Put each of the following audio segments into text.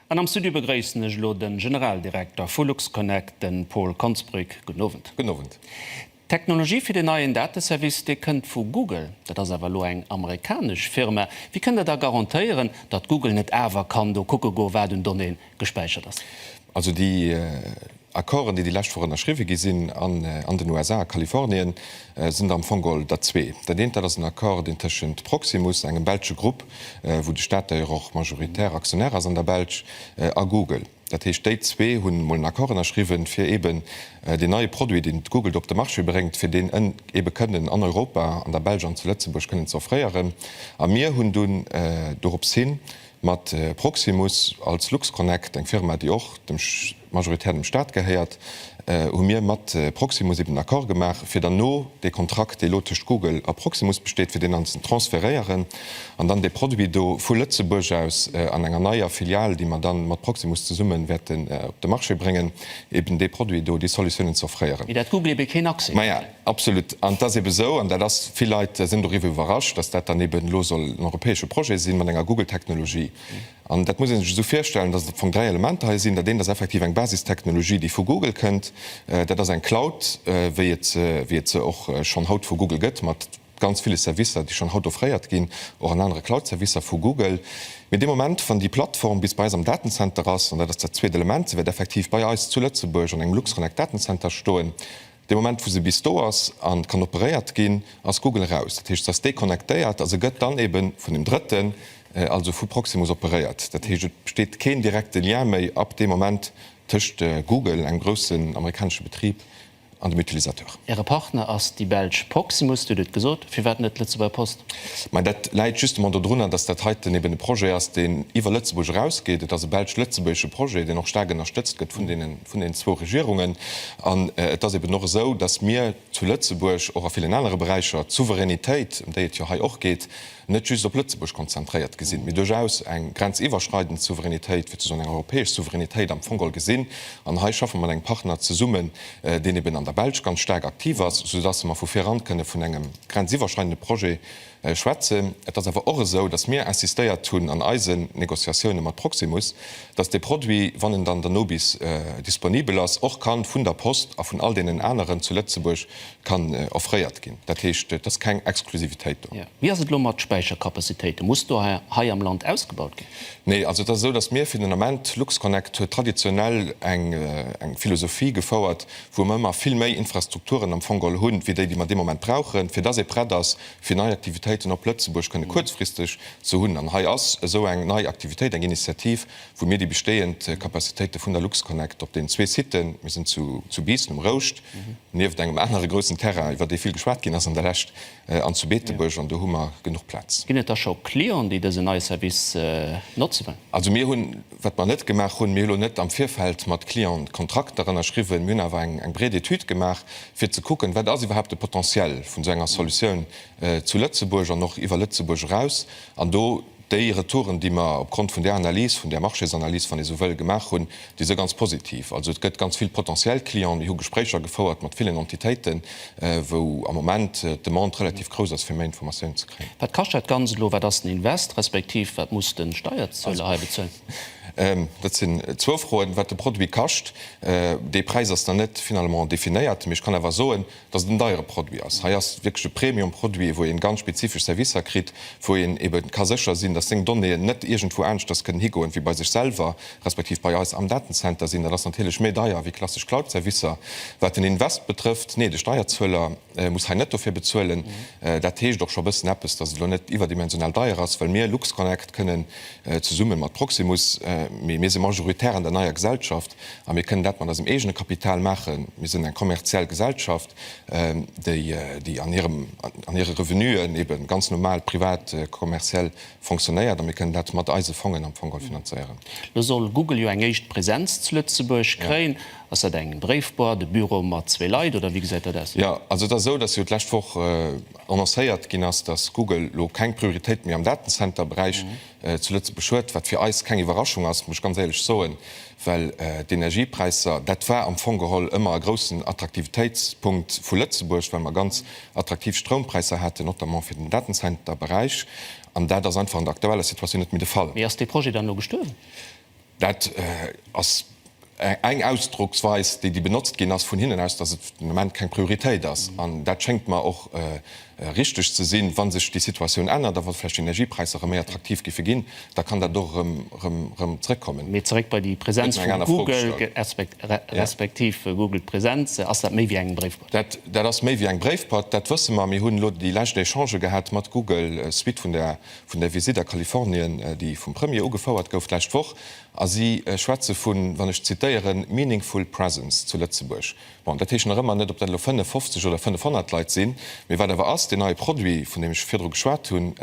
An am Studio begréissen ech elo de Generaldirekter vu LuxConnect, de Paul Konsbrück. Gudden Owend. Gudden Owend. D'Technologie fir deen neien Dateservice, dee kënnt vu Google. Dat ass awer elo eng amerikanesch Firma. Wéi kënnt Der da garantéieren, datt Google net awer kann do kucke goen, wat un Donnéeë gespäichert ass? Also déi Accorden, déi déi lescht Woch ënnerschriwwe gi sinn an den USA, a Kalifornien, sinn der am Fong geholl der zwee. Dat eent, dat ass en Accord, deen tëschent Proximus, engem belsche Grupp, wou de Staat d'ailleurs och majoritär Aktionär ass an der Belsch, a Google. Dat heescht, déi zwee hunn emol en Accord ënnerschriwwen, fir eeben deen neie Produit, deen d'Google do op de Marché bréngt, fir deen eebe kënnen an Europa, an der Belsch an zu Lëtzebuerg kënnen ze offréieren. A mir hunn dunn dorops hin mat Proximus als LuxConnect, eng Firma, déi och dem. majoritär dem Staat gehéiert, hu mir mat Proximus eben en Accord gemaach, fir dann no dee Kontrakt, dee elo tëscht Google a Proximus besteet, fir deen dann ze transferéieren an dann dee Produit do vu Lëtzebuerg aus an enger neier Filial, déi mer dann mat Proximus zesumme wäerten op de Marché bréngen, eben dee Produit do, déi Solutiounen ze offréieren. Mee dat Google ebe keen Accès huet. Maja, absolut. An et ass ebe esou, an dat ass, vill Leit sinn doriwwer iwwerrascht, dass dat dann eben elo soll en europäesche Projet sinn, mat enger Google-Technologie. An dat muss ee sech esou virstellen, dass et am Fong dräi Elementer hei sinn. Dat eent ass effektiv eng Basistechnologie, déi vu Google kënnt. Dat ass eng Cloud, wéi et se, wéi et se och schonn haut vu Google gëtt, mat ganz ville Servicer, déi schonn haut offréiert ginn, och an anere Cloud-Servicer vu Google. Mee dee Moment, wann déi Plattform bis bei eis am Datenzenter ass, an dat ass dat zweet Element, se wäert effektiv bei eis zu Lëtzebuerg an engem Luxconnect-Datenzenter stoen, Dee Moment wou se bis do ass an kann operéiert ginn, ass Google eraus. Dat heescht se ass déconnectéiert a se gëtt dann eben vun dem Drëtten, also vu Proximus operéiert. Dat heescht et besteet keen direkte Lien méi ab deem Moment tëscht Google, engem groussen amerikanesche Betrib, an dem Utilisateur. Äre Partner ass déi belsch Proximus, Dir hutt et gesot. Firwat net d'Lëtzebuerger Post? Mä dat läit justement dodrunner, datt dat heiten eben e Projet ass, deen iwwer Lëtzebuerg erausgeet. Et ass e belsch-lëtzebuergesche Projet, deen och staark ënnerstëtzt gëtt vun deenen. vun den zwou Regierungen. An et ass eben och esou, datt mir zu Lëtzebuerg och a villen anere Beräicher d'Souveränitéit, ëm déi et jo hei och geet, net just op Lëtzebuerg konzentréiert gesinn, mee duerchaus eng grenziwwerschreidend Souveränitéit, fir ze soen eng europäesch Souveränitéit am Fong geholl gesinn. An hei schaffe mer mat engem Partner zesummen, deen eben an der Belsch ganz staark aktiv ass, soudatt mer vu vir eran kënne vun engem grenziwwerschreidende Projet, Schwätzen. Et ass awer och esou, datt mir insistéiert hunn an eisen Négociatioune mat Proximus, datt dee Produit, wann en dann dono bis disponibel ass, och ka vun der Post a vun all deenen aneren zu Lëtzebuerg kann offréiert ginn. Dat heescht, et ass keng Exklusivitéit do. Wéi ass et elo mat Späichercapacitéiten? Muss do hei am Land ausgebaut ginn? Nee. Also, et ass esou, datt mir fir den Ament, LuxConnect huet traditionell eng Philosophie gefouert, wou mer ëmmer vill méi Infrastrukturen am Fong geholl hunn, wéi déi, déi mer dee Moment brauchen, fir dass ee prett ass, fir nei Aktivitéiten op Lëtzebuerg kënne kuerzfristeg ze hunn. An hei ass esou eng nei Aktivitéit, eng Initiativ, wou mir déi bestehend Capacitéite vun der Luxconnect op deenen zwee Siten, mir sinn zu Biissen um Rouscht, nieft engem anere groussen Terrain, iwwer dee vill geschwat ginn ass an der Lescht, An zu Beetebuerg, an do hu mer genuch Plaz. Ginn et da scho Clienten, déi dësen neie Service notze wëllen? Also mir hunn, wat mer net gemaach hunn, mir hu lo net am Virfeld mat Clienten Kontrakter ënnerschriwwen. Mir hunn awer eng breet Etüd gemaach, fir ze kucken, wat ass iwwerhaapt de Potentiel vun esou enger Solutioun zu Lëtzebuerg an och iwwer Lëtzebuerg eraus. An do. Déi Retouren, déi mer opgrond vun där Analys, vun där Marchésanalyse, wann ee sou wëll, gemaach hunn, déi si ganz positiv. Also et gëtt ganz vill potentiell Clienten. Mir hu Gespréicher gefouert mat villen Entitéiten, wou am Moment d'Demande relativ grouss ass, fir méi Informatioun ze kréien. Wat kascht dat Ganzt elo? Wat ass den Invest, respektiv wat muss de Steierzueler hei bezuelen? Dat sinn zwou Froen. Wat de Produit kascht, dee Präis ass nach net finalement definéiert, mee ech kann awer soen, dass et en deiere Produit ass. Hei ass wierklech e Premium-Produit, wou ee ganz spezifesch Servicer kritt, wou een ebe ka sécher sinn, dass seng Donnéeën net iergendwou aneschters kënnen higoen wéi bei sech selwer, respektiv bei eis am Datenzenter sinn. Dat ass natierlech méi deier wéi klassesch Cloud-Servicer. Wat den Invest betrëfft, nee, de Steierzueler muss hei net dofir bezuelen. Dat heescht och scho e bëssen eppes, dass et elo net iwwerdimensional deier ass, well mir LuxConnect kënnen zesumme mat Proximus, mee mir si majoritär an der neier Gesellschaft a mir kënnen dat mat eisem eegene Kapital maachen. Mir sinn eng kommerziell Gesellschaft, déi an hire Revenuen ebe ganz normal privat kommerziell fonctionnéiert, a mir kënnen dat mat eise Fongen am Fong all finanzéieren. Lo soll Google jo eng éischt Präsenz zu Lëtzebuerg kréien. Ass dat eng Bréifboîte, e Büro mat zwee Leit, oder wéi gesäit dat aus? Jo, also et ass esou, dass jo d'lescht Woch, Annoncéiert ginn ass, datt Google elo keng Prioritéit méi am Datenzenter-Beräich zu Lëtzebuerg huet, wat fir eis keng Iwwerraschung ass, muss ech ganz éierlech soen, well d'Energiepräisser, dat war am Fong geholl ëmmer e groussen Attraktivitéitspunkt vu Lëtzebuerg, well mer ganz attraktiv Stroumpräisser haten, notamment fir den Datenzenter-Beräich, an dat ass einfach an der aktueller Situatioun net méi de Fall. Mee ass dee Projet dann elo gestuerwen? Dat ass eng Ausdrocksweis, déi benotzt ginn ass vun hinnen aus, datt et den Ament keng Prioritéit ass. An dat schéngt mer och richteg ze sinn. Wa sech déi Situatioun ännert a wa vläicht d'Energiepräisser erëm méi attraktiv giffe ginn, da kann dat och erëm zrëckkommen. Mee zeréck bei déi Präsenz vu Google respektiv Google Präsenz. Ass dat méi wéi eng Bréifboîte? Dat ass méi wéi eng Bréifboîte, dat wësse mer. Mir hunn elo déi lescht Echangen gehat mat Google suite vun der Vun der Visitt a Kalifornien, déi vum Premier ugefouert gouf d'lescht Woch, a si schwätze vun, wann ech zitéieren, meaningful presence zu Lëtzebuerg. Bon, dat heescht nach ëmmer net, ob dat elo 55 oder 500 Leit sinn. Mee wat awer ass, deen neie Produit, vun deem ech virdru geschwat hunn,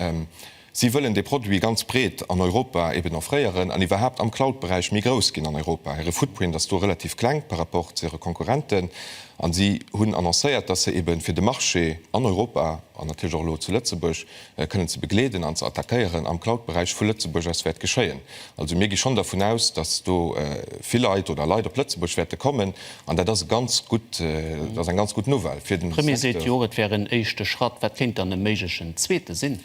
si wëllen dee Produit ganz breet an Europa eben offréieren an iwwerhaapt am Cloud-Beräich méi grouss ginn an Europa. Hire Footprint ass do relativ kleng par rapport zu hire Konkurrenten a si hunn annoncéiert, datt se ebe fir de Marché an Europa an natierlech och elo zu Lëtzebuerg, kënnen ze begleeden an ze attackéieren am Cloud-Beräich vu Lëtzebuerg aus wäert geschéien. Also mir gi schonn dervun aus, datt do vill Leit oder Leit op Lëtzebuerg wäerte kommen an dat ass e ganz gutt, dat ass eng ganz gutt Nouvelle fir den Secteur. Premier seet jo och, et wär en éischte Schratt. Wat kéint dann e méiglechen zweete sinn?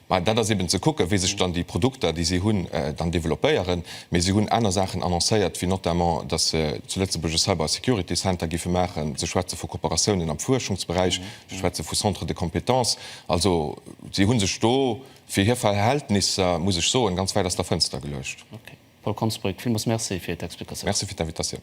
Mä dat ass eben ze kucken, wéi sech dann déi Produkter, déi si hunn, dann développéieren. Mee si hunn aner Saachen annoncéiert, wéi notamment, datt se zu Lëtzebuerg e Cyber-Security-Center géife maachen. Se schwätze vu Kooperatiounen am Fuerschungsberäich. Ech schwätze vu Centres de compétences. Also si hu sech do fir hir Verhältnisser, muss ech soen, ganz wäit aus der Fënster geluecht. Okay. Paul Konsbrück, villmools Merci fir d'Explikatioun. Merci fir d'Invitatioun.